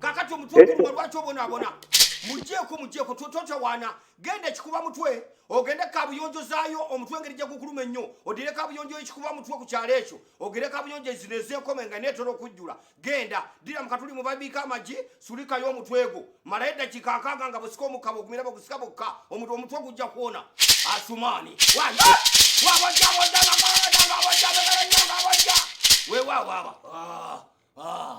kakati omutwe guluma lwaki obonaabona mujeeko mujeeko totawaana genda ekikuba mutwe ogende kabuyonjo zaayo omutwe engeri gyegukuluma ennyo odire kabuyonjo ekikuba mutwe ku kyalo ekyo ogere kabuyonjo zino ezenkoma enga netera okujjula genda dira mukatuli mubabiika amagi sulikayo omutwe gwo malayo eddakiika akaaga nga busika omukaba ogumira bagusika bokka omuntu omutwe gujja kuwona asumaani wabajjabojjabajjabajjabajjabajja wewawaaba ah, ah.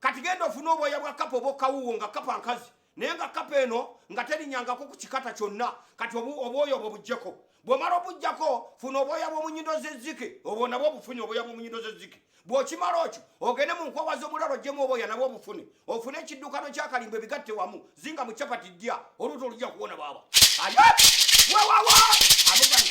kati genda ofune obwoya bwa kapa obwokawuwo nga kapa nkazi naye nga kapa eno nga terinyangako ku kikata kyonna kati obwoya obwo bujjeko bwomala obujjako funa obwoya bwomunyindo zezike obwo nabwo obufune obwoya bwomunyindo zezike bwokimala okyo ogende mu nkwawa z'omulalo ojjemu obwoya nabwo obufune ofune ekiddukano kyakalimba ebigatte wamu zinga mu capati ddya oluuto olujja kuwona baaba wewawa abugani